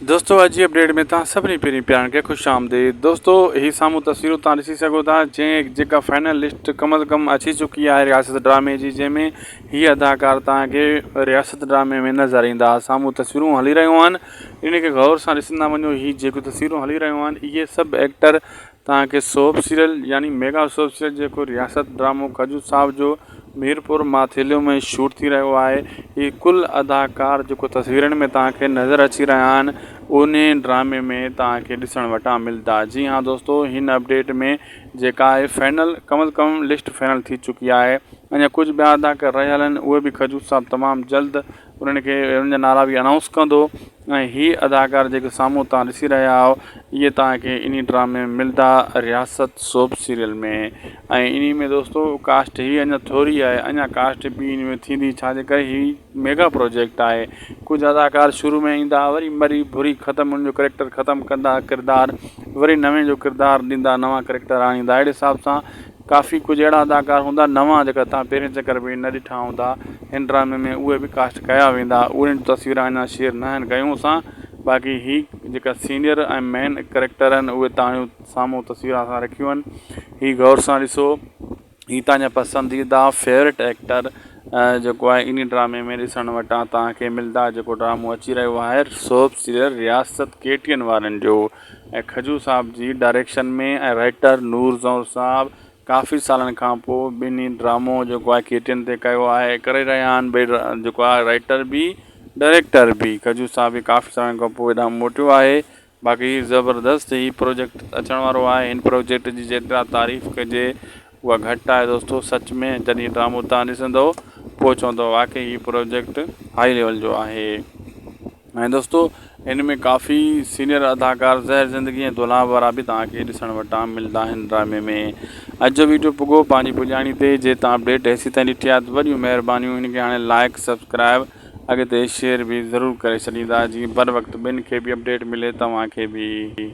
دوستو اڄ جي اپڊيٽ ۾ توهان سڀني پھرين پيارن کي خوش آمديد دوستو ھي سامھون تصويرون توهان ڏسي سگھو ٿا جنهن جيڪا فائنل لسٽ ڪم از ڪم اچي چڪي آهي رياست ڊرامي جي جنهن ۾ ھي اداڪار توهان کي رياست ڊرامي ۾ نظر ايندا سامھون تصويرون ھلي رھيون آھن ان کي غور سان ڏسندا وڃو ھي جيڪو تصويرون ھلي رھيون آھن اھي سڀ ايڪٽر توهان کي سوپ سيريل يعني ميگا سوپ سيريل جيڪو رياست ڊرامو کجور صاحب جو ميرپور ماٿيلو ۾ شوٽ ٿي رهيو آهي هي ڪل اداڪار جيڪو تصويرن ۾ توهان کي نظر اچي رهيا آهن انهي ڊرامي ۾ توهان کي ڏسڻ وٽان ملدا جي ها دوستو هن اپڊيٽ ۾ جيڪا آهي فينل ڪم از ڪم لسٽ فينل ٿي چڪي آهي اڃا ڪجهه ٻيا اداڪار رهيل آهن اهي به کجور صاحب تمام جلد انهن کي انهن جا نالا به انائونس ڪندو ۽ هي اداڪار جيڪي سامهون توهان ڏسي رهيا آهيو اهي توهان کي انهي ڊرامي ملدا رياست سوپ سيريل ۾ ۽ انهي ۾ دوستو ڪاسٽ هي اڃان ٿوري آهي اڃان ڪاسٽ ٻي انهي ۾ ٿيندي ڇا جي ڪري هي ميگا پروجيڪٽ آهي ڪجهه اداڪار شروع ۾ ايندا وري مري ڀري ختم انهن جو ڪريڪٽر ختم ڪندا ڪردار وري نوين جو ڪردار ڏيندا نوان ڪريڪٽر آڻيندا اهڙي حساب سان ڪافي ڪجهه اهڙا اداڪار هوندا نوان جيڪا توهان پهرين چڪر ۾ نه ڏٺا هوندا هن ڊرامي ۾ اهي به ڪاسٽ ڪيا ويندا اهڙين جون تصويرون اڃان شيئر ناهن ڪيون اسان باقي هي جيڪا سينئر ۽ مين ڪريڪٽر آهن اهي توهان سامهون تصويرون اسان رکيون آهن هي غور سان ڏسو هي توهان جا پسنديده فيوريٽ ايڪٽر جيڪو آهي انهي ڊرامي ۾ ڏسڻ وٽان توهان کي ملدا جيڪو ڊرامو اچي رهيو آهي سوپ سيريل رياست ڪي ٽي اين وارن جو ۽ کجو صاحب جي ڊائريڪشن ۾ ۽ رائيٽر نور زئور صاحب ڪافي سالن کان پوء ٻنهي ڊرامو جيڪو آهي ڪي ٽين تي ڪيو آهي ڪري رهيا آهن ٻئي جيڪو آهي رائيٽر به ڊائريڪٽر به کجو صاحب به ڪافي سالن کان پوء هيڏانهن موٽيو آهي باقي زبردست هي پروجيڪٽ اچڻ وارو آهي هن پروجيڪٽ جي جيترا تعريف ڪجي اها گهٽ آهي دوستو سچ ۾ جڏهن هي ڊرامو تهان ڏسندؤ پوء چوندؤ واقعي هي پروجيڪٽ هائي ليول جو آهي ۽ دوستو هن ۾ ڪافي سينيئر اداڪار زهر زندگي ۽ دولاب وارا به تهان کي ڏسڻ وٽان ملدا آهن ڊرامي ۾ اڄ جو ويڊيو پڳو پنهنجي پڄاڻي تي جي تهان اپڊيٽ هيسي تائين ڏٺي آهي ته وڏيون مهربانيون هن کي هاڻي لائيڪ سبسڪرائيب اڳتي شيئر به ضرور ڪري ڇڏيندا جيئن بر وقت ٻين کي به اپڊيٽ ملي توهان کي به.